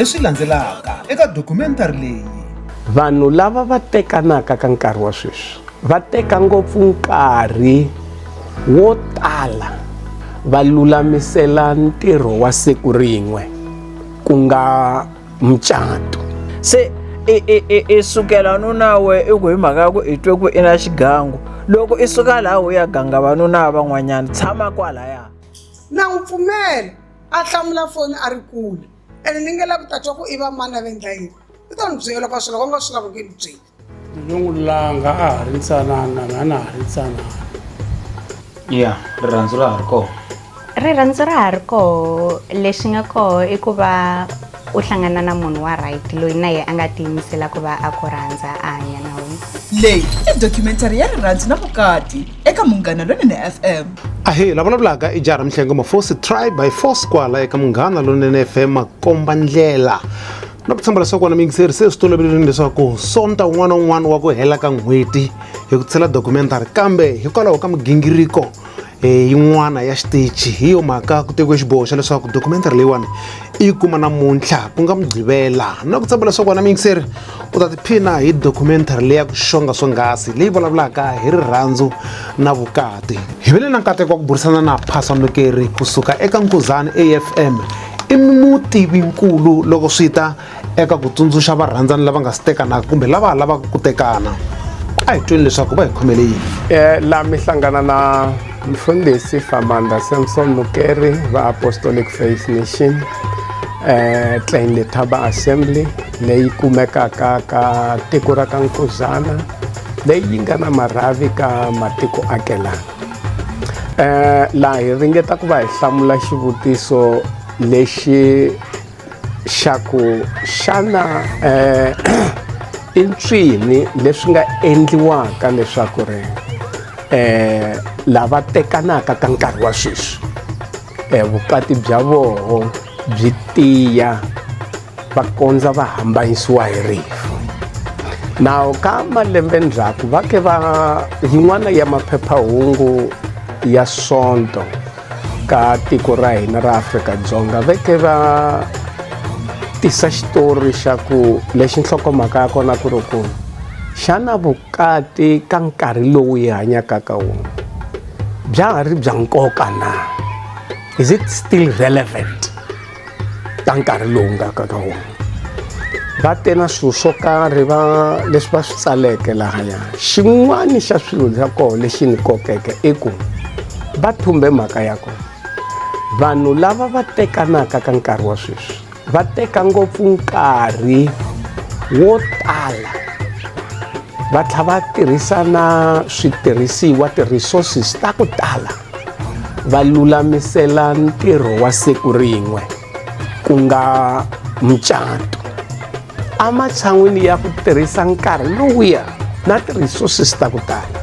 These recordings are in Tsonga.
leswi landzelaka eka dokumentari leyi vanhu lava va tekanaka ka nkarhi wa sweswi va teka ngopfu nkarhi wo tala va lulamisela ntirho wa siku rin'we ku nga mucato se i sukela nuna we i ku hi mhaka ya ku i twe ku i na xigangu loko i suka laha u ya ganga vanuna van'wanyana tshama kwalaya na n'wi pfumela a hlamula foni a ri kule ene ni nge lavi ku ta twa ku i va mani a va endla yini i ta n'wi byela loko a swi loko a nga swi lavi ku ni byela yo n'wi langa a ha ri ntsanana na na ha ri ntsanana ya rirhandzu ra ha ri kona rirhandzu ra ha ri koho lexi nga koho i ku va u hlangana na munhu wa right loyi na yena a nga tiyimisela ku va a ku rhandza a hanya na wena leyi i documentary ya rirhandzu na vukati eka munghana lonene fm ahe la vulavulaka i jara mihlengo mafosi try by force kwala eka munghana lonene fm makomba ndlela na ku tshemba leswaku wena muyingiseri se swi tolovelini leswaku sonta wun'wana na wun'wana wa ku hela ka n'hweti hi ku tshela documentary kambe hikwalaho ka migingiriko um yin'wana ya xitichi hi yo mhaka ku tekiwe xiboho xa leswaku documentary leyiwani i yi kuma namuntlha ku nga mugqivela na ku tshemba leswaku wena muyingiseri u ta tiphina hi documentary leya ku xonga swonghasi leyi vulavulaka hi rirhandzu na vukati hi vele na nkateko wa ku burisana na phasamukeri kusuka eka nkuzani afm i mutivinkulu loko swi ta eka ku tsundzuxa varhandzani lava nga si tekanaka kumbe lava lavaka ku tekana a hi tweni leswaku va hi khomele yini um laha mi hlangana na mfundhisi famanda samson mukeri va apostolic faith nation um tlain letaba assembly leyi kumekaka ka tiko ra ka nkuzana leyi yi nga na marhavi ka matiko akelana eh laha hi ringeta ku va hi hlamula xivutiso lexi xa ku xana eh i ncwini leswi nga endliwaka leswaku ri eh lava tekanaka ka nkarhi wa sweswi eh vukati bya voho byi tiya va kondza va hambanyisiwa hi rifu nawu ka malembe ndzhaku va ke va yin'wana ya maphephahungu ya sonto ka tiko ra hina ra afrika-dzonga va ke va tisa xitori xa ku lexi nhlokomhaka ya kona ku ri ku xana vukati ka nkarhi lowu hi hanyaka ka wona bya ha ri bya nkoka na is it still relevant ka nkarhi lowu nga ka ka wona va te na swilo swo karhi va leswi va swi tsaleke lahaya xin'wani xa swilo xa koho lexi ni kokeke i ku va thumbe mhaka ya ku vanhu lava va tekanaka ka nkarhi wa sweswi va teka ngopfu nkarhi wo tala va tlha va tirhisa na switirhisiwa ti-resources ta ku tala va lulamisela ntirho wa siku rin'we ku nga mucato ematshan'wini ya ku tirhisa nkarhi lowuya na ti-resources ta ku tala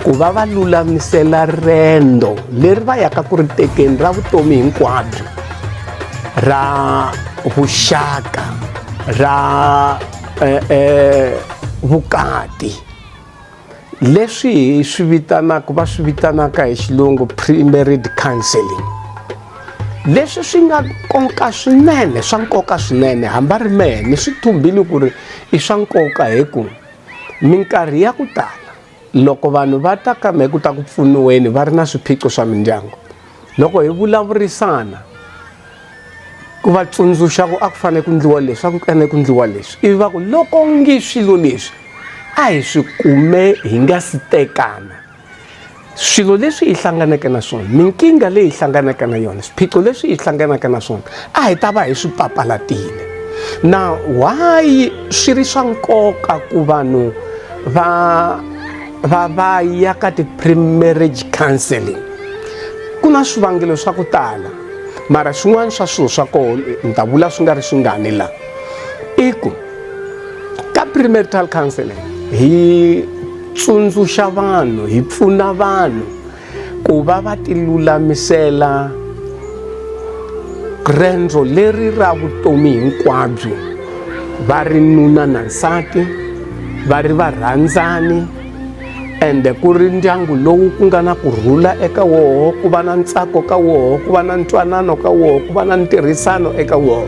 ku va va lulamisela rendo leri va yaka ku ri tekeni ra vutomi hinkwabyo ra vuxaka ra eh, eh, vukati leswi hi swi vitanaka va swi vitanaka hi xilungu pre-married counseling leswi swi nga nkoka swinene swa nkoka swinene hamba ri mehe ni swi thumbile ku ri i swa nkoka hi ku minkarhi ya ku tala loko vanhu va ta ka mehe ku ta ku pfuniweni va ri na swiphiqo swa mindyangu loko hi vulavurisana ku va tsundzuxa ku a ku fanele ku ndliwa leswi a ku fanele ku ndliwa leswi ivi va ku loko ngi swilo leswi a hi swi kume hi nga si tekana swilo leswi hi hlanganeke na swona minkingha leyi hi hlanganaka na yona swiphiqo leswi hi hlanganaka na swona a hi ta va hi swi papalatile na why swi ri swa nkoka ku vanhu va va va ya ka ti-premarriage counseling ku na swivangelo swa ku tala mara swin'wana swa swilo swa koho ni ta vula swi nga ri swingani la i ku ka premarital counseling hi tsundzuxa vanhu hi pfuna vanhu ku va va tilulamisela rendzo leri ra vutomi hinkwabyo va ri nuna na nsati va ri varhandzani ende ku ri ndyangu lowu ku nga na ku rhula eka woho ku va na ntsako ka woho ku va na ntwanano ka woho ku va na ntirhisano eka woho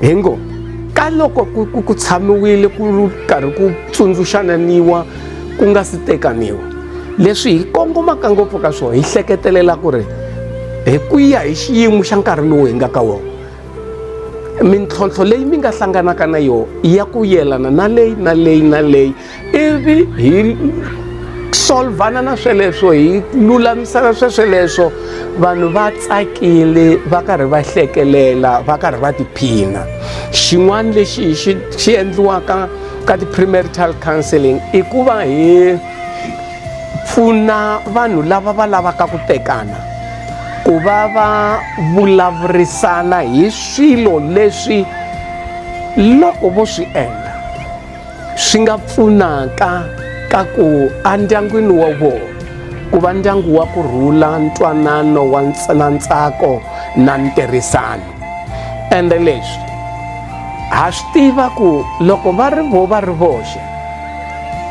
hi ngo ka loko ku tshamiwile ku karhi ku tsundzuxananiwa ku nga si tekaniwa leswi hi kongomaka ngopfu ka swona hi hleketelela ku ri hi ku ya hi xiyimo xa nkarhi lowu hi nga ka wona mintlhontlho leyi mi nga hlanganaka na yona ya ku yelana na leyi na leyi na leyi ivi hi solvhana na sweleswo hi lulamisana swesweleswo vanhu va tsakile va karhi va hlekelela va karhi va tiphina xin'wana lexi xi xi endliwaka ka ti-premarital counseling i ku va hi pfuna vanhu lava va lavaka ku tekana ku va va vulavurisana hi swilo leswi loko vo swi endla swi nga pfunaka ka ku endyangwini wa vona ku va ndyangu wa ku rhula ntwanano wa na ntsako na ntirhisano ende leswi ha swi tiva ku loko va ri vo va ri voxe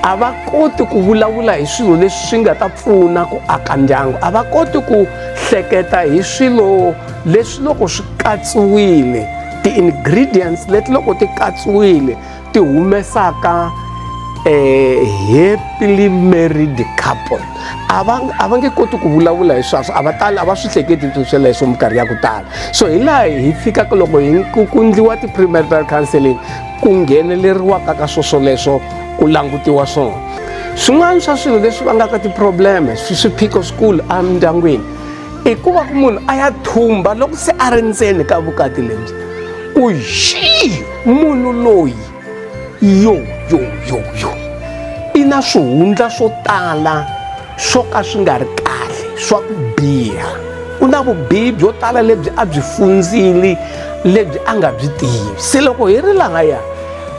a va koti ku vulavula hi swilo leswi swi nga ta pfuna ku aka ndyangu a va koti ku hleketa hi swilo leswi loko swi katsiwile ti-ingredients leti loko ti katsiwile ti humesaka eh, happily married couple a va a va nge koti ku vulavula hi swaswo a va tali a va swi hleketi sweleswo minkarhi ya ku tala so hi laha hi fikaka loko hi ku kundliwa ti-premarital counseling ku ngheneleriwaka ka swo swoleswo ku langutiwa swona swin'wana swa swilo leswi vangaka ti-probleme swiphiqo swikulu emindyangwini i ku va ku munhu a ya thumba loko se a ri ndzeni ka vukati lebyi ku xi munhu loyi yo yo yo yo i na swihundla swo tala swo ka swi nga ri kahle swa ku biha u na vubihi byo tala lebyi a byi fundzili lebyi a nga byi tivi se loko hi ri lahaya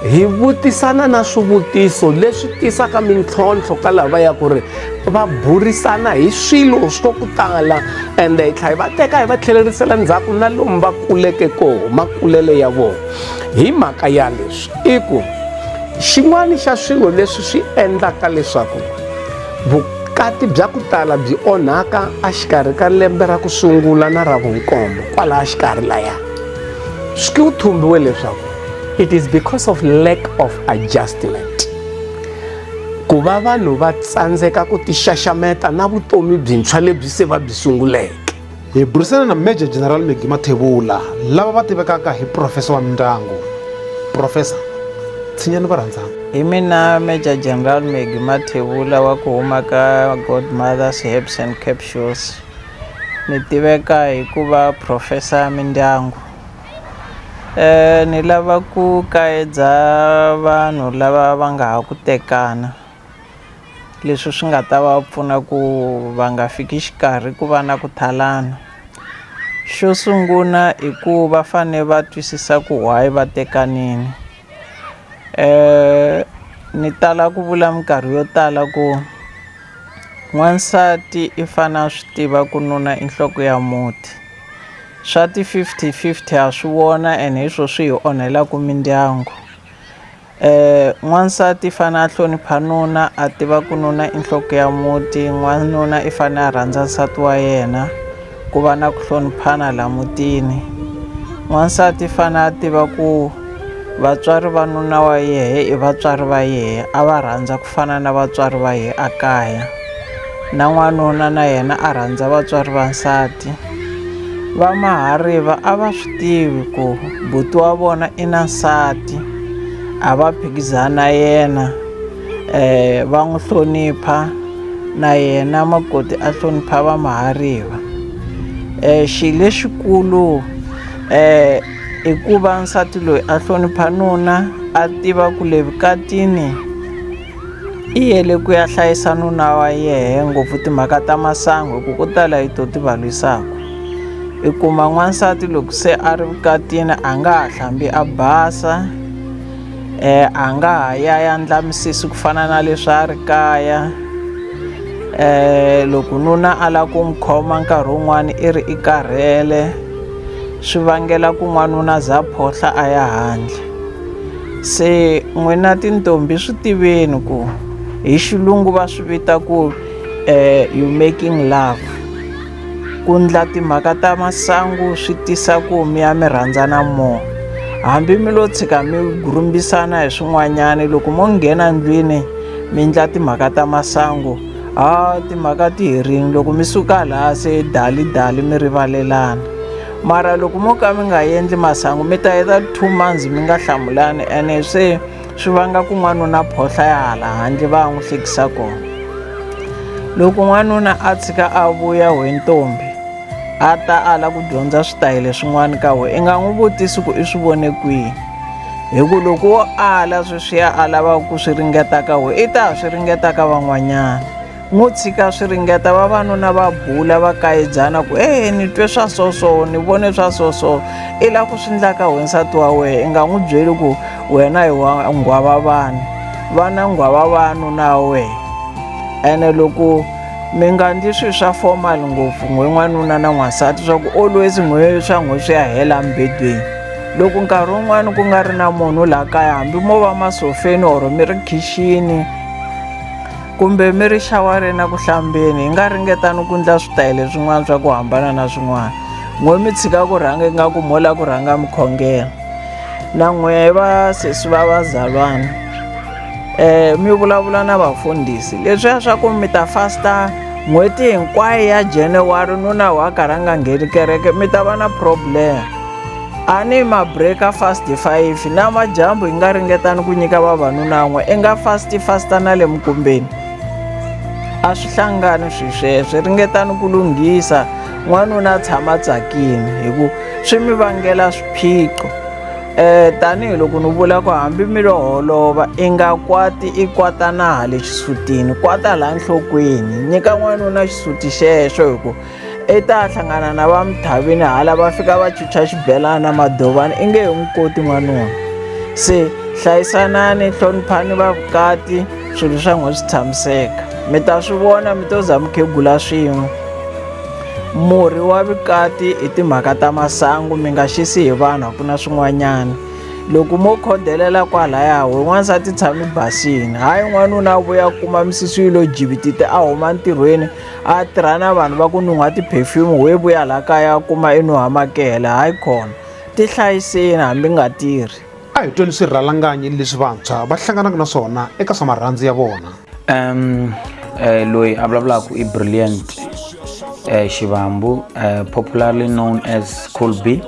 hi vutisana na swivutiso leswi tisaka mintlhontlho ka lava ya ku ri va burisana hi swilo swo ku tala ende hi tlhela hi va teka hi va tlhelerisela ndzhaku na lomu va kuleke koho makulele ya vona hi mhaka ya leswi i ku xin'wana xa swilo leswi swi endlaka leswaku vukati bya ku tala byi onhaka exikarhi ka lembe ra ku sungula na ra vunkombo kwalaha xikarhi laya swi ku thumbiwe leswaku it is because of lack of adjustment ku va vanhu va tsandzeka ku tixaxameta na vutomi byintshwa lebyi se va byi sunguleke hi burisana na major general megi mathevula lava va tivekaka hi profesa wa mindyangu profesa tshinyani va rhandzana hi mina major general megi mathevula wa ku huma ka godmothers herbs and capsules ni tiveka hi ku va profesa mindyangu ni lava ku kaedza vanhu lava va nga ha ku tekana leswi swi nga ta va pfuna ku va nga fiki xikarhi ku va na ku talana xo sungula i ku va fane va twisisa ku why va tekanini ni tala ku vula minkarhi yo tala ku n'wansati i fane a swi tiva ku nuna i nhloko ya muti. swa ti fifty fifty ha swi vona and hi swo swi hi onhelaka mindyangu eh n'wansati i fane a hlonipha nuna a tiva ku nuna i nhloko ya muti n'wanuna i fane a rhandza nsati wa yena ku va na ku hloniphana la mutini n'wansati i fane a tiva ku vatswari va nuna wa yehe i vatswari va yehe a va rhandza ku Ku fana na vatswari va hi a kaya, na n'wanuna na yena a rhandza vatswari va nsati. Va Mahariva a va swi tivi ku buti wa vona i na nsati, a va phikizani na yena, um va n'wi hlonipha na yena makoti a hlonipha Va Mahariva. Um xi lexikulu um. hikuva nsati loyi a hlonipha nuna a tiva ku le vukatini i yele ku ya hlayisa nuna wa yehe ngopfu timhaka ta masangu hi ku ko tala yi to ti va lwisaka i kuma n'wansati loko se a ri vukatini a nga ha hlambi a basa eh a nga ha ya ya ndla misisi ku fana na leswi a ri kaya eh loko nuna a lava ku n'wi khoma nkarhi wun'wani i ri i karhele swi vangela ku n'wanuna za phohla a ya handle se n'wina tintombi swi tiveni ku hi xilungu va swi vita ku um you making love ku ndla timhaka ta masangu swi tisa ku mi ya mi rhandzana more hambi mi lo tshika mi gurhumbisana hi swin'wanyana loko mo nghena ndlwini mi ndla timhaka ta masangu a timhaka ti herini loko mi suka laha se dali dali mi rivalelana mara loko mo ka mi nga endli masangu mi ta heta two months mi nga hlamulani ene se swi vanga ku n'wanuna phohla ya hala handle va n'wi hlekisa kona loko n'wanuna a tshika a vuya hi ntombi a ta ala ku dyondza switayele swin'wana ka we i nga n'wi vutisi ku i swi vone kwihi hi ku loko wo ala sweswiya a lavaka ku swi ringeta ka we i ta ha swi ringeta ka van'wanyana n'wi tshika swi ringeta vavanuna va bula va kayibyana ku e ni twe swa soso ni vone swa soso i la ku swi ndla ka wansati wa wena i nga n'wi byeli ku wena hi wa nghwava vanhu vana nghwava vanhu na wena ene loko mi nga ndli swilo swa formal ngopfu n'we n'wanuna na n'wansati swa ku always n'we swa n'we swi ya hela mbedweni loko nkarhi wun'wani ku nga ri na munhu laha kaya hambi mo va masofeni or mi ri khixini kumbe mi ri xawareni a ku hlambeni hi nga ringetani ku ndla switayele swin'wana swa ku hambana na swin'wana n'we mi tshika ku rhanga ingaku mo la ku rhanga mi khongela na n'we va sesi va vazalwana eh mi vulavula na vafundhisi leswiya swa ku mi ta fasta n'hweti hinkwayo ya january nuna wa karhi a nga ngheni kereke mi ta va na problem a ni ma breaker fast five na majambu hi nga ringetani ku nyika vavanuna n'we i nga fast fasta na le mukumbeni a swi hlangani swi sweswe ringetani ku lunghisa n'wanuna a tshama tsakini hi ku swi mi vangela swiphiqo Eh tanihi loko ni vula ku hambi mi lo holova i nga kwati i kwata na hale xisutini kwata la nhlokweni nyika n'wanuna xisuti xexo hi ku i ta hlangana na va mithavini hala va fika va chucha xibelana na madovana i nge he n'wi koti n'wanuna se hlayisanani hloniphani vavukati swilo swa n'we swi tshamiseka mi ta swi vona mi to za mukhegula swin'we murhi wa vukati hi timhaka ta masangu mi nga xisi hi vanhu a ku na swin'wanyana loko mo khodelela kwalaya we n'wansati tshami basini hayi n'wanuna vuya kuma misisi yi lo jibitite a huma ntirhweni a tirha na vanhu va ku nun'ha ti-perfume we vuya laha kaya kuma i nuhamakela hayi khona ti hlayiseni hambi nga tirhi A hi tweni swirhalanganyi leswi vantshwa va hlanganaka na swona eka swa marhandzu ya vona. Um, eh, loyi a vulavulaka i brilliant eh, xivambu eh, popularly known as cool b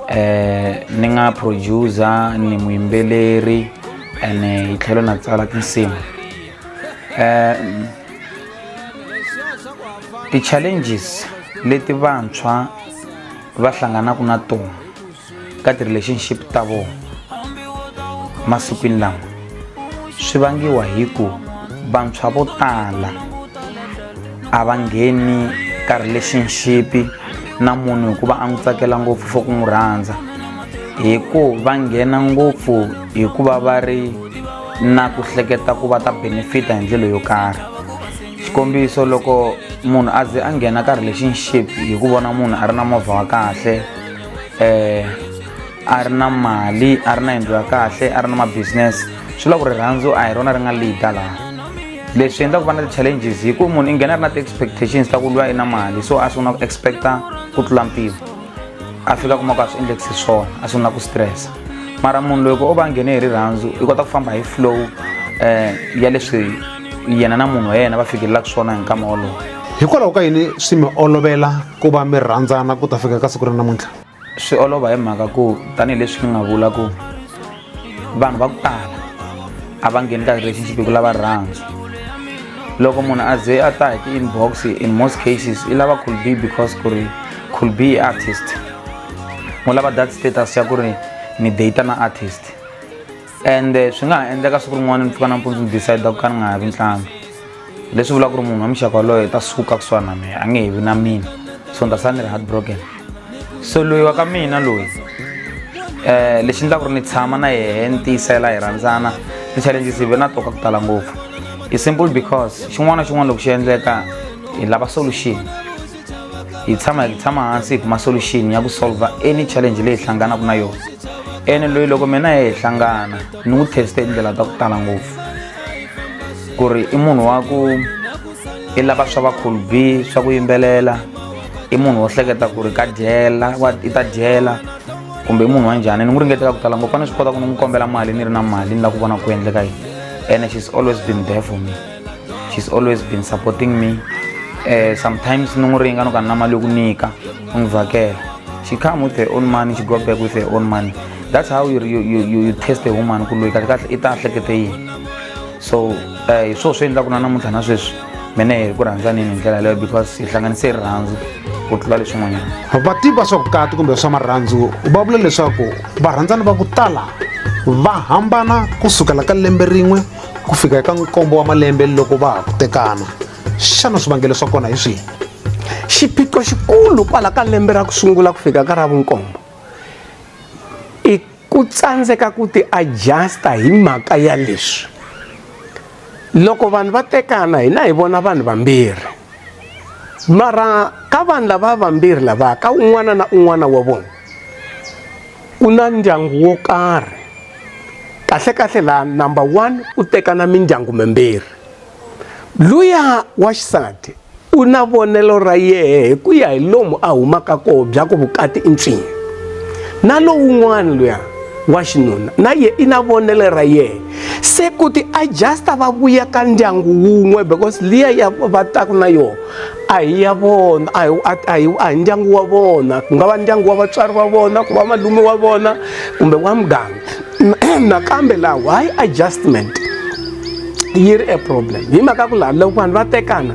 eh, ni nga producer ni muyimbeleri and eh, hi tlhelo na tsala tinsimu eh, ti-challenges leti vantshwa va hlanganaka na tona ka ti-relationship ta vona masikwini lawa swi vangiwa hi ku vantshwa vo tala a va ngheni ka relationship na munhu hikuva a n'wi tsakela ngopfu for ku n'wi rhandza hi ku va nghena ngopfu hikuva va ri na ku hleketa ku va ta benefita hi ndlela yo karhi xikombiso loko munhu a ze a nghena ka relationship hi ku vona munhu a ri na movha wa kahle eh a ri na mali a ri na yindlu ya kahle a ri na mabusiness swi la ku rirhandzu a hi rona ri nga leader laha leswi endla ku va na ti-challenges hi ku munhu i nghena a ri na ti-expectations ta ku lwa i na mali so a sungula ku expecta ku tlula mpimo a fika kuma ku a swi endlekisi swona a sungula ku stressa mara munhu loyi ku o va nghene hi rirhandzu i kota ku famba hi flow um ya leswi yena na munhu wa yena va fikelelaka swona hi nkama wolowo hikwalaho ka yini swi mi olovela ku va mi rhandzana ku ta fika ka siku ra namuntlha swi olova hi mhaka ku tanihileswi ni nga vula ku vanhu va ku tala a va ngheni ka relationship hi ku lava rhandza loko munhu a ze a ta hi ti-inbox in most cases i lava could be because ku ri could be artist u lava that status ya ku ri ni data na artist and eh, swi nga ha endleka siku rin'wana ni pfuka nampundzu ni decide ku ka ni nga ha vi ntlanga leswi vulaka ku ri munhu wa muxaka waloyo ta suka kusuhani na mina a nge he vi na mina so ni ta sala ni ri heart broken so loyi wa ka mina loyi um lexi endlaka ku ri ni tshama na yehe ni tiyisela hi rhandzana ti-challenges hi ve na toka ku tala ngopfu i simple because xin'wana na xin'wana loko xi endleka hi lava solution hi tshama hi tshama hansi hi kuma solution ya ku solva any challenge leyi hi hlanganaka na yona ene loyi loko mina hi hlangana ni n'wi teste hi tindlela ta ku tala ngopfu ku ri i munhu wa ku i lava swa vakhulu b swa ku yimbelela i munhu wo hleketa ku ri ka dyela i ta dyela kumbe i munhu wa njhani ni n'wi ringeteka ku tala ngopfu a ni swi kota ku ni n'wi kombela mali ni ri na mali ni lava ku vona ku endleka yini ene she's always been there for me she's always been supporting me uh, sometimes ni n'wi ringa ni ka nna mali yo ku nyika u n'wi vhakela she come with her own money she go back with her own money that's how you, you, you, you test a woman ku loyi kahle kahle i ta hlekete yini so eh, hi swoo swi endlaku na namuntlha na sweswi mina hi ku rhandzanini hi ndlela leyo because hi hlanganise rirhandzu ku tlula leswin'wanyana vativi va swa vukati kumbe swa marhandzu va vula leswaku varhandzani va ku tala va hambana ku sukela ka lembe rin'we ku fika eka nkombo wa malembe loko va ha ku tekana xana swivangelo swa kona hi swihi xiphiqo xikulu kwala ka lembe ra ku sungula ku fika ka ra vunkombo i ku tsandzeka ku ti adjusta hi mhaka ya leswi loko vanhu va tekana hina hi vona vanhu vambirhi mara ka vanhu lava vambirhi lava ka un'wana na un'wana wa vona ku na ndyangu wo karhi kahlekahle laha number one u tekana mindyangu mimbirhi luya wa xisati u na vonelo ra yehe hi ku ya hi lomu a humaka koho bya ku vukati i ntswini na lowun'wana luya wa xinuna na ye i na vonelo ra yehe se ku ti adjusta va vuya ka ndyangu wun'we because liya ya va taku na yona a hi ya vona a hi a hi a hi ndyangu wa vona ku nga va ndyangu wa vatswari va vona ku va malume wa vona kumbe wa muganga nakambe laha why adjustment yi ri a problem hi mhaka ku laha loko vanhu va tekana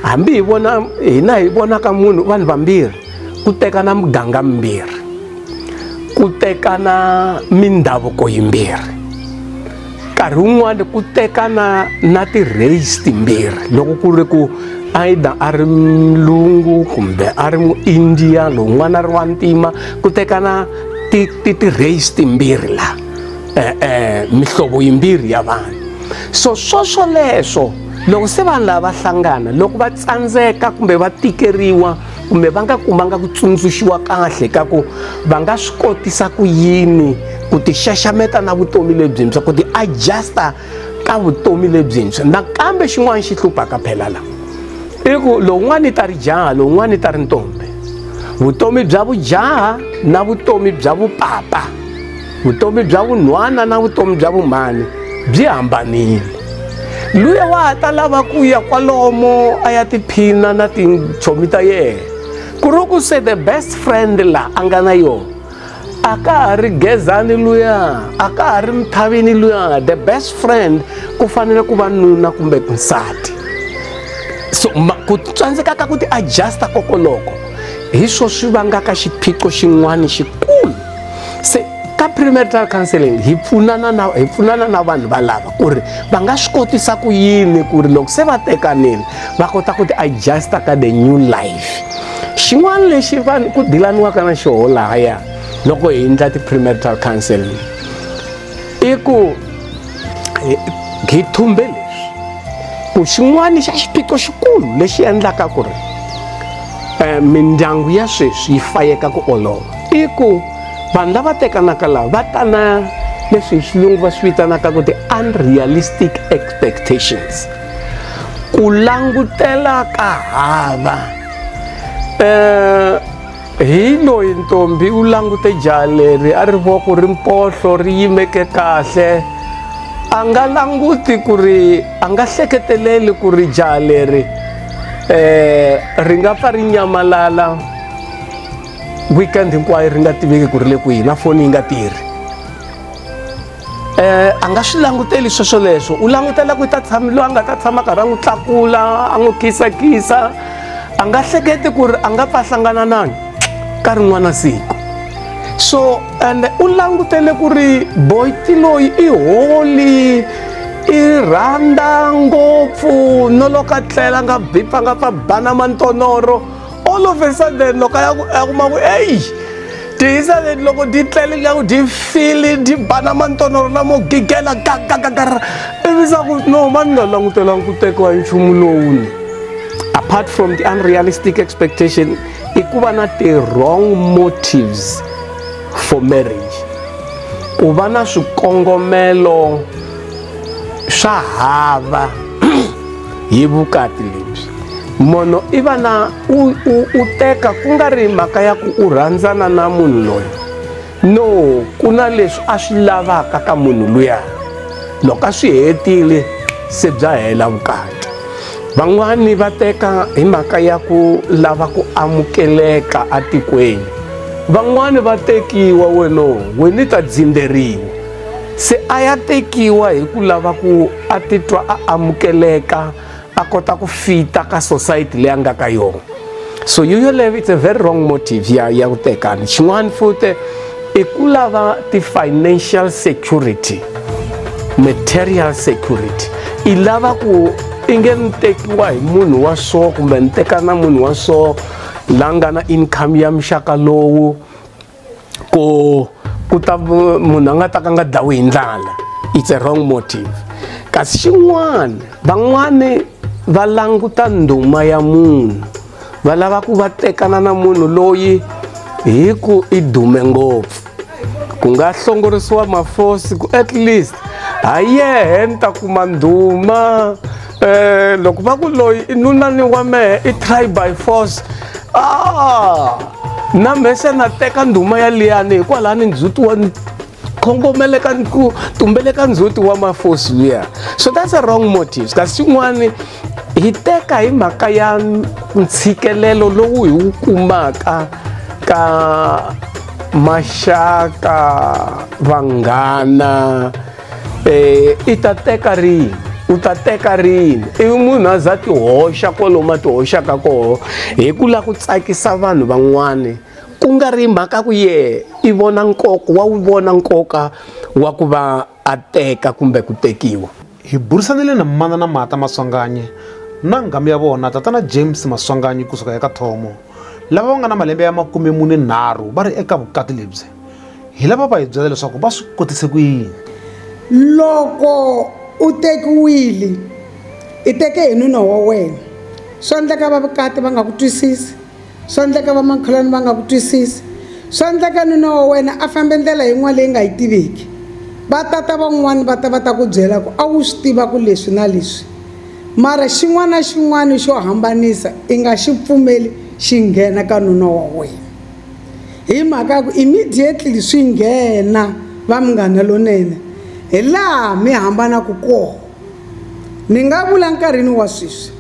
hambi hi vona hina hi vonaka munhu vanhu vambirhi ku tekana muganga mimbirhi ku tekana mindhavuko yimbirhi nkarhi wun'wana ku tekana na ti-race timbirhi loko ku ri ku either a ri mlungu kumbe a ri muindiya lowun'wana a ri wa ntima ku tekana ti-race timbirhi laha eh, eh, mihlovo yimbirhi ya vanhu so swoswoleswo loko se vanhu lava va hlangana loko va tsandzeka kumbe va tikeriwa kumbe va nga kumanga ku tsundzuxiwa kahle ka ku va nga swi kotisa ku yini ku ti xaxameta na vutomi lebyintshwa ku ti adjusta ka vutomi lebyintshwa nakambe xin'wana xi hluphaka phela la i ku lowun'wana i ta ri jaha lowun'wana i ta ri ntombi vutomi bya vujaha na vutomi bya vupapa vutomi bya vunhwana na vutomi bya vumhani byi hambanile luya wa ha ta lava ku ya kwalomo a ya tiphina na tintshomi ta yena ku ri ku se the best friend laha a nga na yona a ka ha ri gezani luya a ka ha ri mithavini luya the best friend ku fanele ku va nuna kumbe nsati so ku tsandzeka ka ku ti-adjusta kokoloko hi swo swi vangaka xiphiqo xin'wana xikulu se ka premarital counseling hi pfunana na hi pfunana na vanhu valava ku ri va nga swi kotisa ku yini ku ri loko se va tekanile va kota ku ti adjusta ka the new life xin'wana lexi vanhu ku dilaniwaka na xoho lahaya loko hi endla ti-premarital counseling i ku hi thumbe leswi ku xin'wana xa xiphiqo xikulu lexi endlaka ku ri um mindyangu ya sweswi yi fayeka ku olova i ku vanhu lava tekanaka laha va ta na leswi hi xilungu va swi vitanaka ku ti-unrealistic expectations ku langutela ka hava um Hi loyi ntombi u langute jaha leri a ri voko ri mpohlo ri yimeke kahle a nga languti ku ri a nga hleketeleli ku ri jaha leri um ri nga pfa ri nyamalala weekend hinkwayo ri nga tiveki ku ri le kwihi na foni yi nga tirhi Eh, a nga swi languteli sweswoleswo u langutela ku ta tshama loyi a nga ta tshama karhi a n'wi tlakula a n'wi khisakisa a nga hleketi ku ri a nga pfa hlangana nani ka rin'wana siku so and u langutele ku ri boyti loyi i holi i rhandza ngopfu no loko a tlela a nga bipa nga pfa bana mantonoro all of a sudden loko ya ya kuma ku eyi tihisa leti loko ti tlele ya ku ti fili ti bana mantonoro lamo gigela gagagagara ivisa ku no mani nga langutelanga ku tekiwa hi nchumu lowuni apart from the unrealistic expectation i ku va na ti-wrong motives for marriage ku va na swikongomelo swa hava hi vukati lebyi mono i vana u, u, u teka ku nga ri mhaka ya ku u rhandzana na munhu loyi no ku na leswi a swi lavaka ka munhu luya loko a swi hetile se bya hela vukati van'wani va teka hi mhaka ya ku lava ku amukeleka atikweni van'wani va tekiwa weno wena ta dzindzeriwa se a ya tekiwa hi ku lava ku a titwa a amukeleka a kota ku fita ka society leyi a nga ka yona so yo yoleyo it's a very wrong motive ya ya ku tekana xin'wana futi i ku lava ti-financial security material security i lava ku i nge ni tekiwa hi munhu wa so kumbe ni teka na munhu wa so la nga na income ya muxaka lowu ku ku ta munhu a nga ta ka nga dlawi hi ndlala it's a wrong motive kasi xin'wana van'wani va languta ndhuma ya munhu va lava ku va tekana na munhu loyi hi ku i dume ngopfu ku nga hlongorisiwa mafosi ku at least ha yehe ni ta kuma ndhuma Eh, loko va ku loyi i nunani wa mehe i try by force ah na mehe se na teka ndhuma ya liyani hikwalaho ni ndzhuti wa khongomeleka ni ku tumbeleka ndzhuti wa mafosi luya so that's a wrong motives kasi xin'wani hi teka hi mhaka ya ntshikelelo lowu hi wu kumaka ka maxaka vanghana um i ta teka rini u ta teka rini i munhu a za tihoxa kwaloma tihoxaka koho hi ku lava ku tsakisa vanhu van'wana ku nga ri mhaka ku ye i vona nkoka wa wu vona nkoka wa ku va a teka kumbe ku tekiwa hi burisanile na mana na mata maswanganye na nghamu ya vona tatana james maswanganye kusuka eka thomo lava va nga na malembe ya makume mune nharhu va ri eka vukati lebyi hi lava va hi byela leswaku va swi kotise ku yini loko u tekiwile i teke hi nuna wa wena swa endleka va vukati va nga ku twisisi swa endleka vamakhelwani va nga ku twisisi swa endleka nuna wa wena a fambe ndlela yin'wana leyi nga yi tiviki va tata van'wani va ta va ta ku byela ku a wu swi tiva ku leswi na leswi Mara xin'wana na xin'wana xo hambanisa i nga xi pfumeli xi nghena ka nuna wa wena. Hi mhaka ya ku immediately swi nghena va Munghana Lonene hi laha mi hambanaka kona. Ni nga vula nkarhini wa sweswi,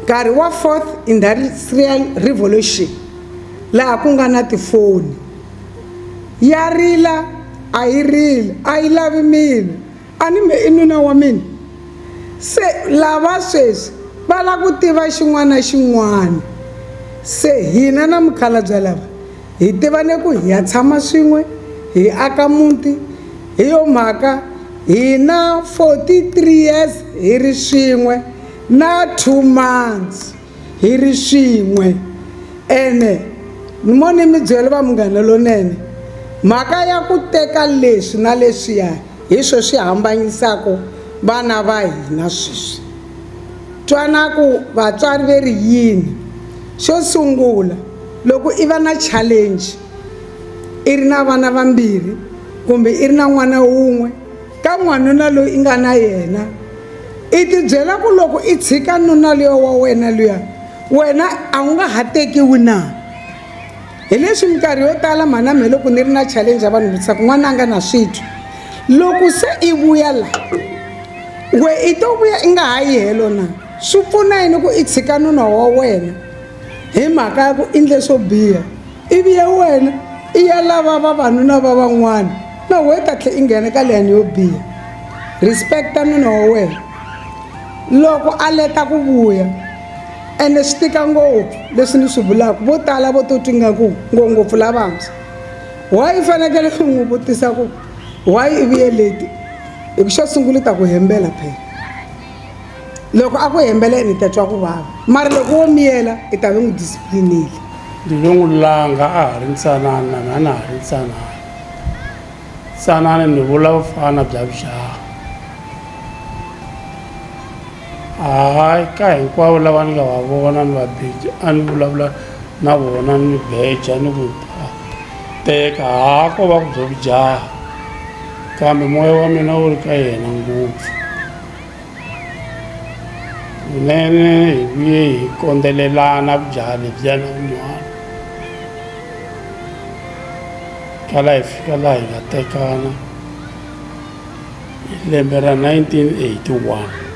nkarhi wa fourth industrial revolution laha ku nga na tifoni, ya rila a yi rili a yi lavi milo. A ni me i nuna wa mina? Se lava sweswi va lava ku tiva xin'wana na xin'wana. Se hina na mukhalabya lava hi tivane ku hi ya tshama swin'we hi aka muti, hi yo mhaka hi na 43 years hi ri swin'we na two months. hi ri swin'we ene mo ni mi byela va munghana lonene mhaka ya ku teka leswi na leswiya hi swo swi hambanyisaka vana va hina sweswi twanaku vatswari ve ri yini xo sungula loko i va na challenge i ri na vana vambirhi kumbe i ri na n'wana wun'we ka n'wanuna loyi i nga na yena i tibyela ku loko i tshika nuna luya wa wena luya wena a wu nga ha tekiwi na hi leswi minkarhi yo tala mhana mhe loko ni ri na challenge ya vanhu vutisa ku n'wana a nga na switwi loko se i vuya la we i to vuya i nga ha yi helo na swi pfuna yini ku i tshika nuna wa wena hi mhaka ya ku i ndle swo biha ivi ya wena i ya lava vavanuna va van'wana na wehe ta tlhe i nghena ka leyani yo biha respecta nuna wa wena loko a leta ku vuya ene swi tika ngopfu leswi ni swi vulaka vo tala vo to twi ngaku ngopfu lavantshwa why i fanekele i n'wi vutisa ku why i vuye leti hi ku xo sungula i ta ku hembela phela loko a ku hembela ene i ta twa ku vava mara loko wo miyela i ta ve n'wi disciplinile ndzi ve n'wi langa a ha ri ntsanana na na ha ri ntsanana tsanani ni vula vufana bya vujaha hayi ka hinkwavo lava ni nga va vona ni va beja a ni vulavula na vona ni beja ni ku teka ha ko va ku byo vujaha kambe moya wa mina wu ri ka yena ngopfu Kunene hi vuye hi kondzelelana vujaha lebyiya na vun'wana kala hi fika laha hi nga tekana hi lembe ra 1981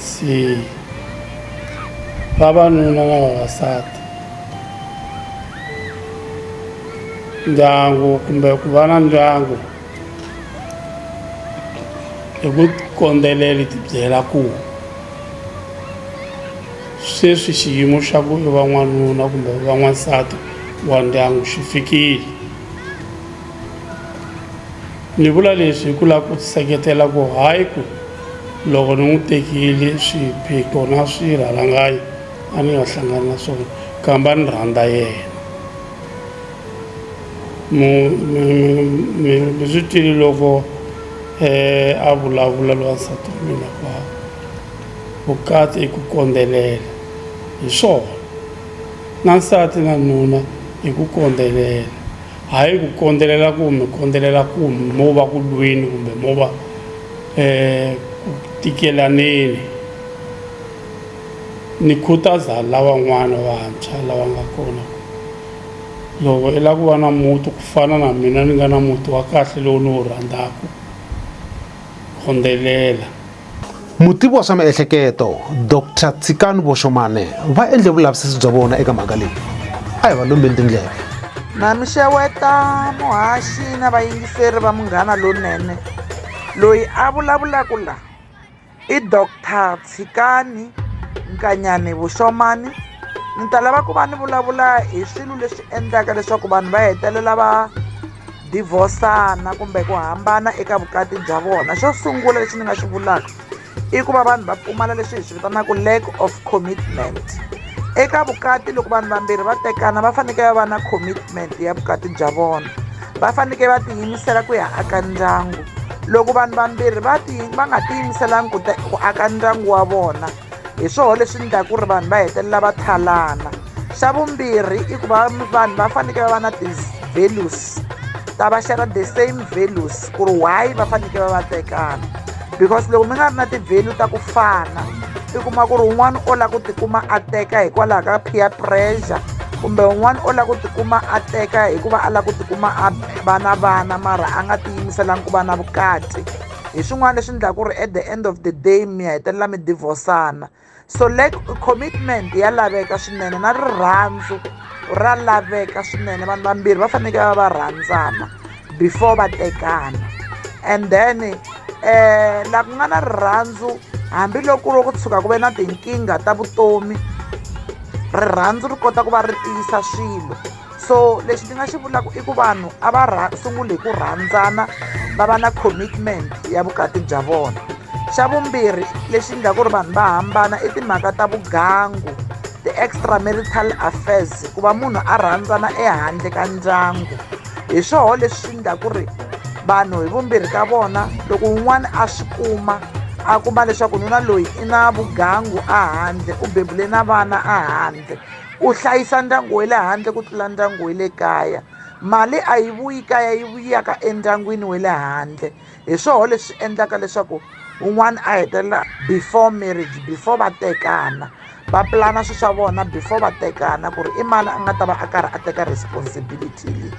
se vavanuna na vavasati ndyangu kumbe ku va na ndyangu. hi ku kondzelela ti byela ku sweswi xiyimo xa ku va n'wanuna kumbe va n'wansati wa ndyangu xi fikile ni vula leswi hi ku lava ku seketela ku hayi ku loko ni n'wi tekile swiphiqo na swirhalanganyi a ni nga hlangani na swona kamba ni rhandza yena mi mi mi mi mi swi twile loko a vulavula loyi wansati wa mina ku a vukati i ku kondzelela hi swona na nsati na nuna i ku kondzelela hayi ku kondzelela ku mi kondzelela ku mo va ku lweni kumbe mo va ku tikelaneni ni khutaza lavan'wana vantshwa lava nga kona ku. Loko i lava ku va na muti ku fana na mina ni nga na muti wa kahle lowu ni wu rhandzaka, rhundzelela. Mutivi wa swa miehleketo, Doctor Tshikani Voshomane va endle vulavisisi bya vona eka mhaka leyi. A hi va lombeni tindleve. Mhani Xeweta, muhaxi na vayingiseri va Munghana Lonene loyi a vulavulaka la. I doctor Tshikani Nkanyane Vushomani ni ta lava ku va ni vulavula hi swilo leswi endlaka leswaku vanhu va hetelela va divhosana kumbe ku hambana eka vukati bya vona xo sungula lexi ni nga xi vulaka i ku va vanhu va pfumala leswi hi swi vitanaka lack of commitment eka vukati loko vanhu vambirhi va tekana va fanekele va va na commitment ya vukati bya vona va fanekele va tiyimisela ku ya aka ndyangu loko vanhu vambirhi va ti va nga tiyimiselanga ku ku aka ndyangu wa vona hi swoho leswi endlaka ku ri vanhu va hetelela va thalana xa vumbirhi i ku va vanhu va fanekele va va na ti-values ta va share the same values ku ri why va fanekele va va tekana because loko mi nga ri na ti-value ta ku fana i kuma ku ri un'wana o lava ku tikuma a teka hikwalaho ka peer pressure kumbe un'wana o lava ku tikuma a teka hikuva a lava ku tikuma a va na vana mara a nga tiyimiselanga ku va na vukati hi swin'wana leswi endlaka ku ri at the end of the day mi hetelela mi divhosana so lack commitment ya laveka swinene na rirhandzu ra laveka swinene vanhu vambirhi va fanekele va va rhandzana before va tekana and then um la ku nga na rirhandzu hambiloko ro ku tshuka ku ve na tinkingha ta vutomi rirhandzu ri kota ku va ri tiyisa swilo so lexi ndzi nga xi vulaka i ku vanhu a va rha sunguli hi ku rhandzana va va na commitment ya vukati bya vona xa vumbirhi lexi endlaka ku ri vanhu va hambana i timhaka ta vugangu ti-extra marital affairs ku va munhu a rhandzana ehandle ka ndyangu hi swoho leswi endla ku ri vanhu hi vumbirhi ka vona loko un'wana a swi kuma a kuma leswaku nuna loyi i na vugangu a handle u bebule na vana a handle u hlayisa ndyangu wa le handle ku tlula ndyangu wa le kaya mali a yi vuyi kaya yi vuyaka endyangwini wa le handle hi swoho leswi endlaka leswaku un'wana a hetelela before marriage before va tekana va pulana swilo swa vona before va tekana ku ri i mani a nga ta va a karhi a teka responsibility leyi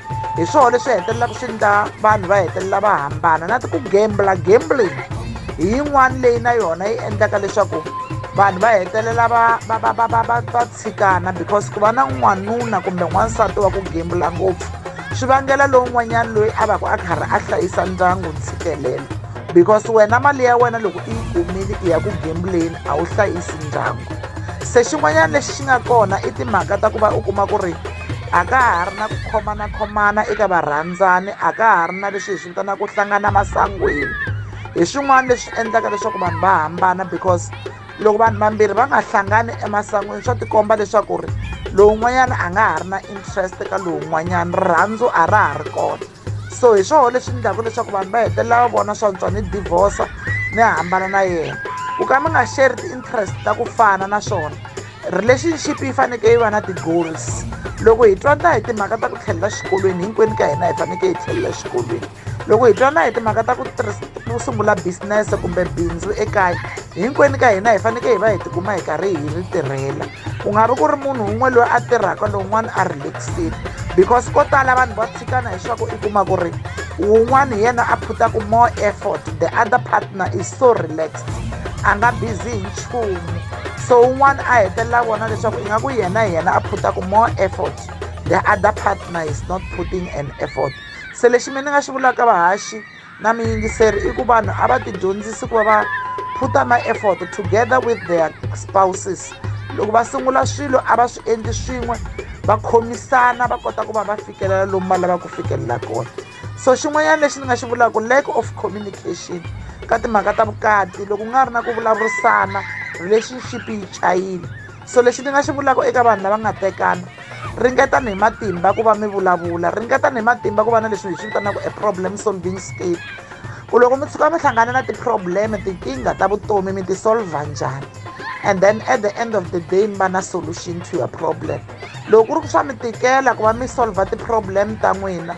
hi swona leswi hetelelaka swi endla vanhu va hetelela va hambana na ti ku gembula gambling hi yin'wana leyi na yona yi endlaka leswaku vanhu va hetelela va va va va va va va tshikana because ku va na n'wanuna kumbe n'wansati wa ku gembula ngopfu swi vangela lowun'wanyana loyi a va ku a karhi a hlayisa ndyangu ntshikelelo because wena mali ya wena loko i yi kumile i ya ku gembuleni a wu hlayisi ndyangu se xin'wanyana lexi xi nga kona i timhaka ta ku va u kuma ku ri a ka ha ri na ku khomanakhomana eka varhandzani a ka ha ri na leswi hi swi vitanaka ku hlangana masangwini hi swin'wana leswi endlaka leswaku vanhu va hambana because loko vanhu vambirhi va nga hlangani emasangwini swa tikomba leswaku ri lowun'wanyana a nga ha ri na interest ka lowun'wanyana rirhandzu a ra ha ri kona so hi swona leswi endlaka leswaku vanhu va hetelela va vona swa ntswa ni divorce ni hambana na yena ku ka mi nga share ti-interest ta ku fana na swona relationship yi fanekele yi va na ti-goals loko hi twana hi timhaka ta ku tlhelela xikolweni hinkwenu ka hina hi fanekele hi tlhelela xikolweni loko hi twana hi timhaka ta ku ku sungula business kumbe bindzu ekaya hinkwenu ka hina hi fanekele hi va hi tikuma hi karhi hi ri tirhela ku nga vi ku ri munhu un'we loyi a tirhaka lowun'wana a relaxile because ko tala vanhu va xana hi swa ku i kuma ku ri wun'wana hi yena a phutaku more effort the other partner is so relaxed a nga busy hi nchumu so un'wana a hetelela vona leswaku ingaku yena hi yena a phutaku more effort the other partner is not putting an effort se lexi mina ni nga xi vulaka vahaxi na muyingiseri i ku vanhu a va tidyondzisi ku va va put a ma-effort together with their spouses loko va sungula swilo a va swi endli swin'we va khomisana va kota ku va va fikelela lomu va lavaka ku fikelela kona so xin'wanyana lexi ni nga xi vulaka lack of communication ka timhaka ta vukati loko ku nga ri na ku vulavurisana relationship yi chayile so lexi ni nga xi vulaka eka vanhu lava nga tekana ringetani hi matimba ku va mi vulavula ringetani hi matimba ku va na leswi hi swi vitanaka e problem solving skill ku loko mi tshuka mi hlangana na ti-problem tinkingha ta vutomi mi ti-solva njhani and then at the end of the day mi va na solution to your problem loko ku ri ku swa mi tikela ku va mi solva ti-problem ta n'wina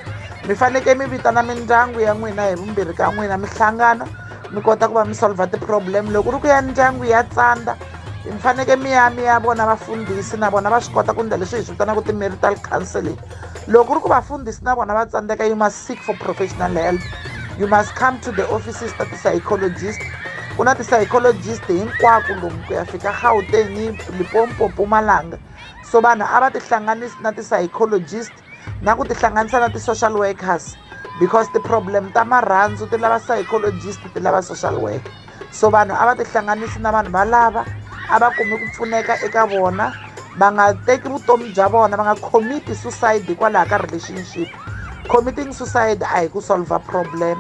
mi fanekele mi vitana mindyangu ya n'wina hi vumbirhi ka n'wina mi hlangana mi kota ku va mi solva ti-problem loko ku ri ku ya ndyangu ya tsandza mi faneke mi ya mi ya vona vafundhisi na vona va swi kota ku ndla leswi hi swi vitanaka ti-marital counseling loko ku ri ku vafundhisi na vona va tsandzeka you must seek for professional help you must come to the offices ta ti-psychologist ku na ti-psychologist hinkwako lomu ku ya fika gauteng limpopo mpumalanga so vanhu a va tihlanganisi na ti-psychologist na ku tihlanganisa na ti-social workers because ti-problem ta marhandzu ti lava psychologist ti lava social worker so vanhu a va tihlanganisi na vanhu valava a va kumi ku pfuneka eka vona va nga teki vutomi bya vona va nga commiti suicide hikwalaho ka relationship committing suicide a hi ku solver problem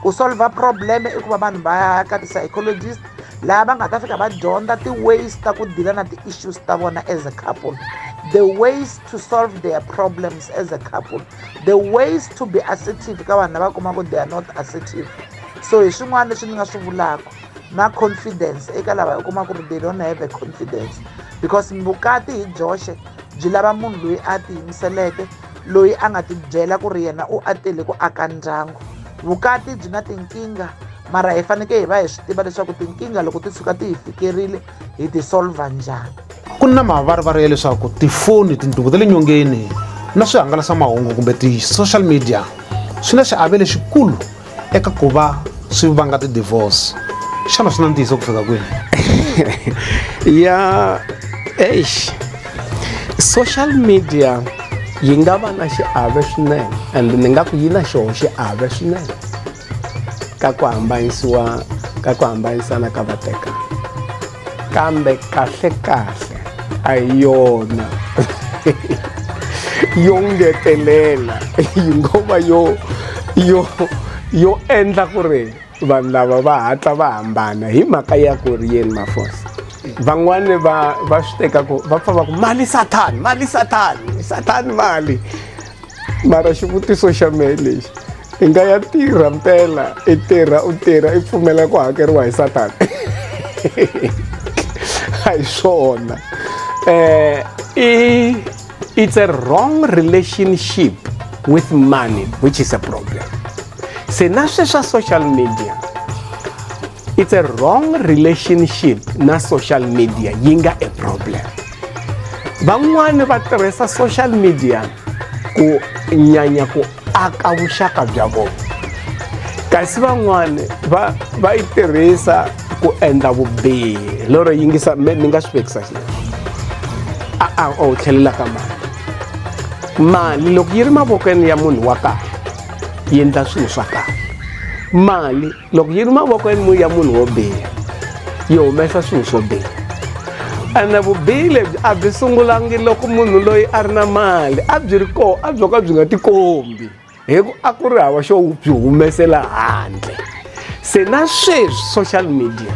ku solver problem i ku va vanhu va ya ka ti-psychologist laha va nga ta fika va dyondza ti-ways ta ku dila na ti-issues ta vona as a couple the ways to solve their problems as a couple the ways to be assertive ka vanhu lava kuma ku they are not assertive so hi swin'wana leswi ni nga swi vulaka na confidence eka lava hi kuma ku ri they don't have a confidence because vukati hi byoxe byi lava munhu loyi a tiyimiseleke loyi a nga tibyela ku ri yena u a tele ku aka ndyangu vukati byi na tinkingha mara hi fanekele hi va hi swi tiva leswaku tinkingha loko ti tshuka ti hi fikerile hi ti solva njhani ku na mavarivari ya leswaku tifoni tinduku ta le nyongeni na swihangalasamahungu kumbe ti-social media swi na xiave lexikulu eka ku va swi vanga ti-divorce xana swi na ntiyiso ku fika kwini ya eish social media yi nga va na xiave swinene and ni nga ku yi na xoho xiave swinene ka ku hambanyisiwa ka ku hambanyisana ka vatekani kambe kahlekahle a hi yona yo ngetelela yi ngo va yo yo yo endla ku ri vanhu lava va hatla va hambana hi mhaka ya ku ri yeni mafosa van'wani va va swi teka ku va pfa va ku mali sathani mali sathani sathani mali mara xivutiso xa mehe lexi i nga ya tirha mpela i tirha u tirha i pfumela ku hakeriwa hi satana a hi swona um i it's a wrong relationship with money which is a problem se na swe swa social media it's a wrong relationship na social media yi nga a problem van'wani va tirhisa social media ku nyanya ku aka vuxaka bya vona kasi van'wani va va yi tirhisa ku endla vubihi lero yingisa me ni nga swi vekisa xi a a o tlhelela ka mali mali loko yi ri mavokweni ya munhu wa kahle yi endla swilo swa kahle mali loko yi ri mavokweni ya munhu wo biha yi humesa swilo swo biha ene vubihi lebyi a byi sungulangi loko munhu loyi a ri na mali a byi ri koho a byo ka byi nga tikombi hi ku a ku ri hava xo byi humesela handle se na sweswi social media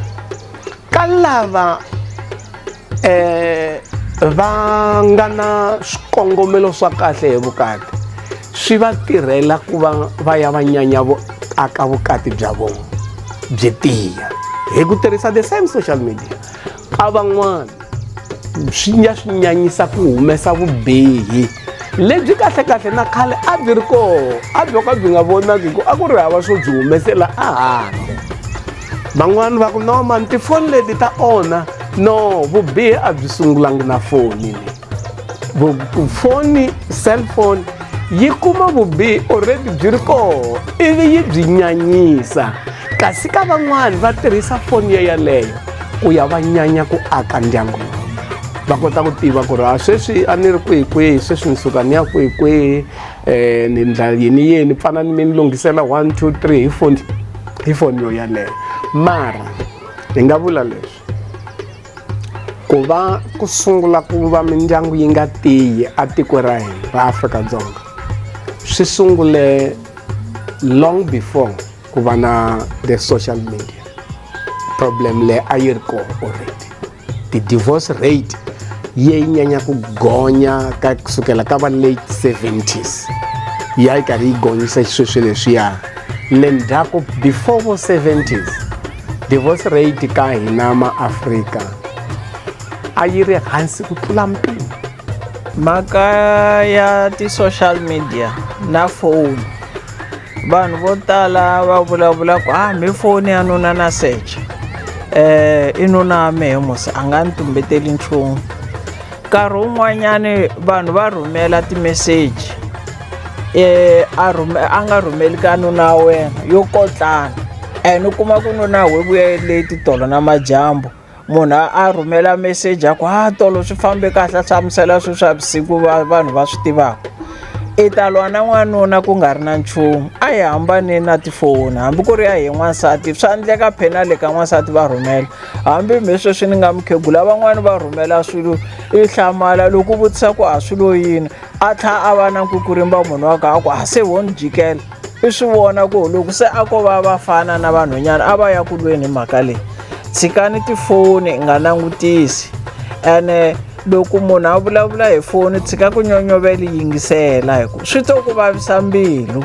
ka lava eh va nga na swikongomelo swa kahle hi vukati swi va tirhela ku va va ya va nyanya vo aka vukati bya vona byi tiya hi ku tirhisa the same social media a van'wana swi nga swi nyanyisa ku humesa vubihi lebyi kahlekahle na khale a byi ri kona a byo ka byi nga vonaki ku a ku ri hava swo byi humesela a handle van'wana va ku no mani tifoni leti ta onha no vubihi a byi sungulangi na foni leyi foni cellphone yi kuma vubihi already byi ri koho ivi yi byi nyanyisa kasi ka van'wani va tirhisa foni yo yeleyo ku ya va nyanya ku aka ndyangu va kota ku tiva ku ri a sweswi a ni ri kwihi kwihi sweswi ni suka ni ya kwihi kwihi um ni ndla yini yini pfana ni mi ni lunghisela one two three hi foni hi foni yo yaleyo mara hi nga vula leswi ku va ku sungula ku va mindyangu yi nga tiyi a tiko ra hina ra afrika-dzonga swi sungule long before ku va na the social media problem leyi a yi ri kona already ti-divorce rate yi nyanya ku gonya ka kusukela ka va late 70s ya yi karhi yi gonyisa xisweswi leswiya le ndzhaku before vo 70s divorce rate ka hina maafrika a yi ri hansi ku tlula mpimo mhaka ya ti-social media na phone vanhu vo tala va vulavula ku ah mi foni ya nuna na search eh i nuna wa mehe musi a nga ni tumbeteli nchumu nkarhi wun'wanyani vanhu va rhumela timeseji eh a rhume a nga rhumeli ka nuna wa wena yo kotlana and u kuma ku nuna we vuya leti tolo na majambu munhu a a rhumela meseji a ku ha tolo swi fambe kahle a hlamusela swilo swa vusiku va vanhu va swi tivaka i ta lwa na n'wanuna ku nga ri na nchumu a hi hambane na tifoni hambi ku ri ya hi n'wansati swa endleka phena le ka n'wansati va rhumela hambi mi sweswi ni nga mukhegula van'wani va rhumela swilo i hlamala loko u vutisa ku a swi lo yini a tlha a va na nkukurimbwa munhu wa ka a ku a se wo ni jikela i swi vona ku loko se a ko va vafana na vanhwanyana a va ya ku lweni hi mhaka leyi tshikani tifoni i nga langutisi ene loko munhu a vulavula hi foni tshika ku nyonyovela yingisela hi ku swi to ku vavisa mbilu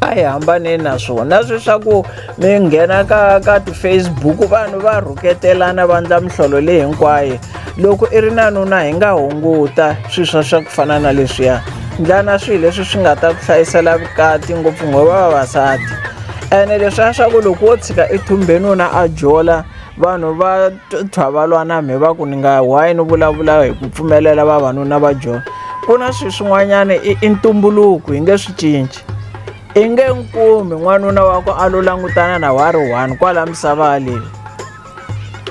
a hi hambaneni na swona na swi swa ku mi nghena ka ka ti-facebook vanhu va rhuketelana va ndla mihlolo leyi hinkwayo loko i ri na nuna hi nga hunguta swilo swa swa ku fana na leswiya ndlana swilo leswi swi nga ta ku hlayisela vukati ngopfu ngo vavasati ene leswiya swa ku loko wo tshika i thumbe nuna a jola vanhu va thwa va lwana mi va ku ni nga why ni vulavula hi ku pfumelela vavanuna va jola ku na swilo swin'wanyana i, i ntumbuluko hi nge swi cinci i nge nkumi n'wanuna wa ku a lo langutana na wa ri one kwala misava leyi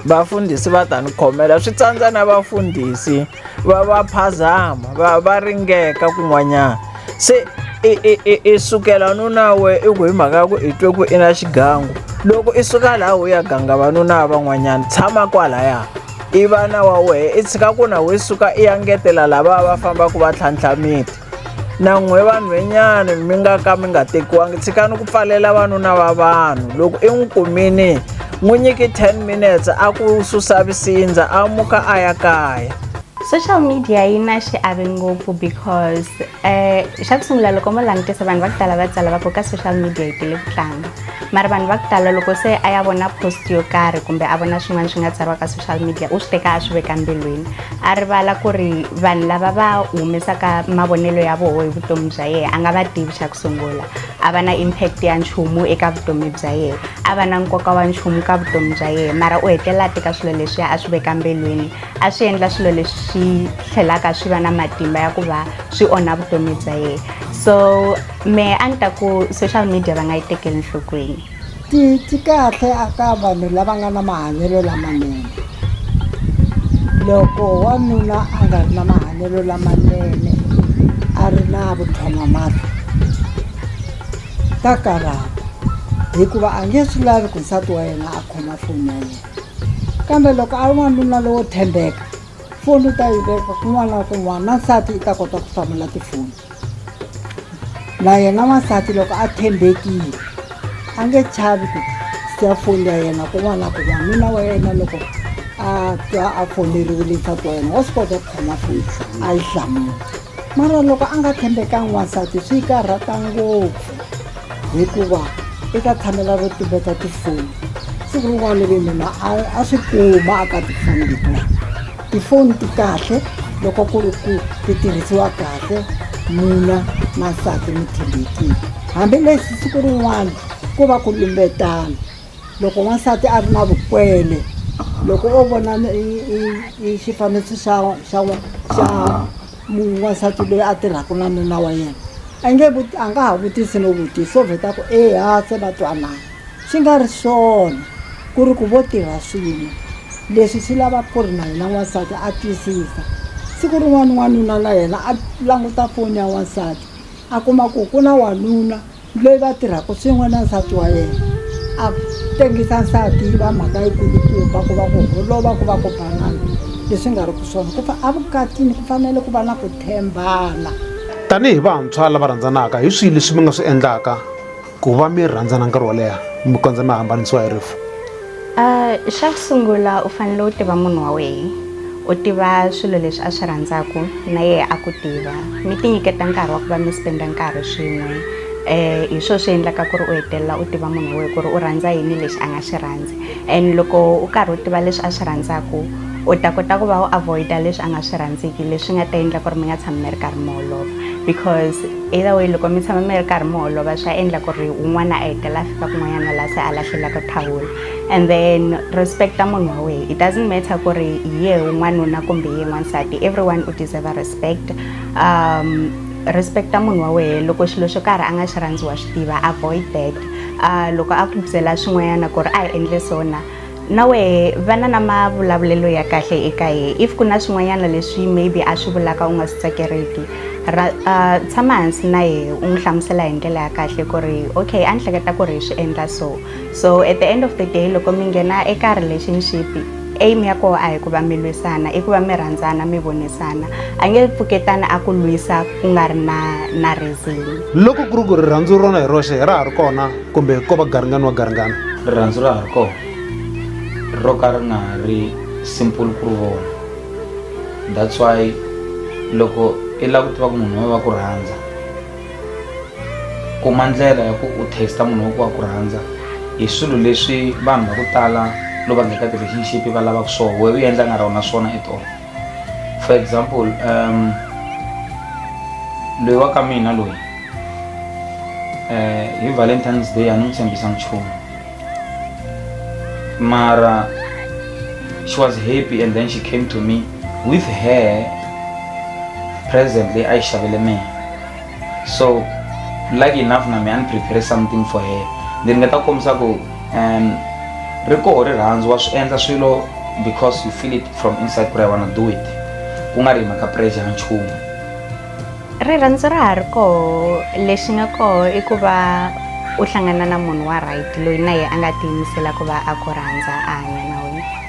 vafundhisi va ta ni khomela swi tsandza na vafundhisi va va phazama va va ringeka kun'wanyana se i sukela nuna we i ku hi mhaka ya ku i twe ku i na xigangu loko i suka laha u ya ganga vanuna van'wanyana tshama kwalaya i vana wa wehe i tshika ku na we suka i ya ngetela lava va fambaka va tlhantlha miti nan'we vanhwenyani mi nga ka mi nga tekiwangi tshikani ku pfalela vanuna va vanhu loko i n'wi kumini n'wi nyiki 10 minutes a ku susa visindza a muka a ya kaya social media yi na xiave ngopfu because um xa ku sungula loko mo langutisa vanhu va ku tala va tsala va ku ka social media yi tele ku tlanga mara vanhu va ku tala loko se a ya vona post yo karhi kumbe a vona swin'wana swi nga tsariwa ka social media u swi teka a swi veka mbilwini a rivala ku ri vanhu lava va humesaka mavonelo ya voho hi vutomi bya yena a nga va tivi xa ku sungula a va na impact ya nchumu eka vutomi bya yena a va na nkoka wa nchumu ka vutomi bya yena mara u hetelela a teka swilo leswiya a swi veka mbilwini a swi endla swilo leswi swi tlhelaka swi va na matimba ya ku va swi onha vutomi bya yena so mehe a ni ta ku social media va nga yi tekeli nhlokweni ti ti kahle a ka vanhu lava nga na mahanyelo lamanene loko wanuna a nga ri na mahanyelo lamanene a ri na vuthon'wamati ta karhata hikuva a nge swi lavi ku nsati wa yena a khoma foni ya yena kambe loko a ri n'wanuna lowo tshembeka foni u ta yi veka kun'wana na kun'wana na nsati i ta kota ku hlamula tifoni na yena n'wansati loko a tshembekile a nge chavi ku siya foni ya yena kun'wana na kun'wana nuna wa yena loko a twa a foneriwile nsati wa yena wa swi kota ku khoma foni a yi hlamula mara loko a nga tshembekanga n'wansati swi karhata ngopfu hikuva i ta tshamela ro tumbeta tifoni siku rin'wana ve nuna a swi kuma a ka tifoni letiwani tifoni ti kahle loko ku ri ku ti tirhisiwa kahle mina na nsati mi tshembekile hambileswi siku rin'wana ku va ku lumbetana loko n'wansati a ri na vukwele loko o vona xifaniso xa xa xa n'wansati loyi a tirhaka na nuna wa yena a nge a nga ha vutisi no vutisa o vheta ku eya se va twanana Swi nga ri swona ku ri ku vo tirha swin'we. Leswi swi lava ku ri na yena n'wansati a twisisa. Siku rin'wana n'wanuna na yena a languta foni ya n'wansati, a kuma ku ku na wanuna loyi va tirhaka swin'we na nsati wa yena, a tengisa nsati yi va mhaka yi kulukumba ku va ku holova ku va ku banana leswi nga ri ku swona. Ku a vukatini ku fanele ku va na ku tshembana. Tanihi vantshwa lava rhandzanaka, hi swihi leswi mi nga swi endlaka? ku va mi rhandzana nkarhi wo leha mi kondza mi hambanisiwa hi rifu Ah, xa ku sungula u fanele u tiva munhu wa wena u tiva swilo leswi a swi rhandzaka na yena a ku tiva mi tinyiketa nkarhi wa ku va mi spenda nkarhi swin'we um hi swona swi endlaka ku ri u hetelela u tiva munhu wa wena ku ri u rhandza yini lexi a nga xi rhandzi and loko u karhi u tiva leswi a swi rhandzaka u ta kota ku va u avoida leswi a nga swi rhandziki leswi nga ta endla ku ri mi nga tshami mi ri karhi mi holova because either way loko mi tshama mi ri karhi mi holova swa endla ku ri un'wana a hetelela a fika kun'wanyana laha se a lahlelaka thawula and then respecta munhu wa wehe it doesn't matter ku ri hi ye un'wanuna kumbe hi ye n'wansati everyone u deserve a respect um respecta munhu wa wehe loko xilo xo karhi a nga xi rhandziwa swi tiva avoid that uh, loko a ku byela swin'wanyana ku ri a hi endle sona so na wehe va na na mavulavulelo ya kahle eka ye if ku na swin'wanyana leswi maybe a swi vulaka u nga swi tsakeriki tshama hansi na ye u n'wi hlamusela hi ndlela ya kahle ku ri okay a ni hleketa ku ri hi swi endla so so at the end of the day loko mi nghena eka relationship aim ya koho a hi ku va mi lwisana i ku va mi rhandzana mi vonisana a nge pfuketana a ku lwisa ku nga ri na na reason loko ku ri ku rirhandzu rona hi roxe hi ra ha ri kona kumbe ko va garingani wa garingani rirhandzu ra ha ri kona ro ka ri nga ha ri simple ku ri vona that's why loko i lava ku tiva ku munhu wa va ku rhandza kuma ndlela ya ku u testa munhu wa ku wa ku rhandza hi swilo leswi vanhu va ku tala loko va ngheka ti-relationship va lavaka swona we u endla nga rona swona at all for example um, loyi wa ka mina loyi eh, hi valentines day a ni n'wi tshembisa nchumu mara she was happy and then she came to me with her present leyi a yi xavele mina so lucky enough na me a ni prepare something for her then nga ta kombisa ku um ri koho rirhandzu wa swi endla swilo because you feel it from inside ku ri i wanna do it ku nga ri hi mhaka pressure ya nchumu rirhandzu ra ha ri koho lexi nga koho i ku va u hlangana na munhu wa right loyi na ye a nga tiyimisela ku va a ku rhandza a hanya na wena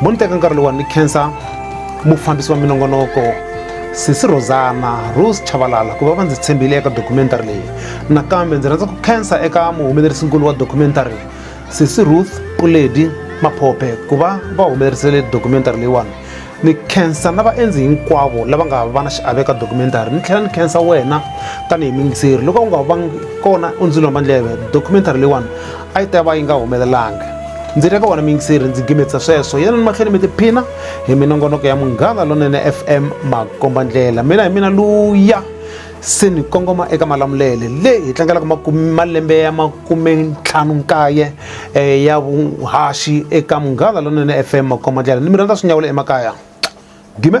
mo ni teka nkarhi lowa ni khensa mufambisi wa minongonoko sisi rosana rose chavalala ku va va ndzi tshembile eka documentary leyi nakambe ndzi rhandza ku khensa eka muhumelerisinkulu wa documentary sisi ruth puledi maphophe ku va va humelerisele documentary leyiwani ni khensa na vaendzi hinkwavo lava nga va na xiave ka documentary ni tlhela ni khensa wena tanihi mingiseri loko u nga va kona u ndzi lomba ndleve documentary leyiwani a yi ta va yi nga humelelanga ndzi ri ka wona miyingiseri ndzi gimetsa sweswo yena ni mahlweni mi tiphina hi minongonoko ya munghana lonene fm makombandlela mina hi mina luya se ni kongoma eka malamulele leyi hi tlangelaka malembe ya makume ntlhanu nkaye um ya vuhaxi eka munghana lonene fm makombandlela ni mi rhandza swi nyawula emakaya gime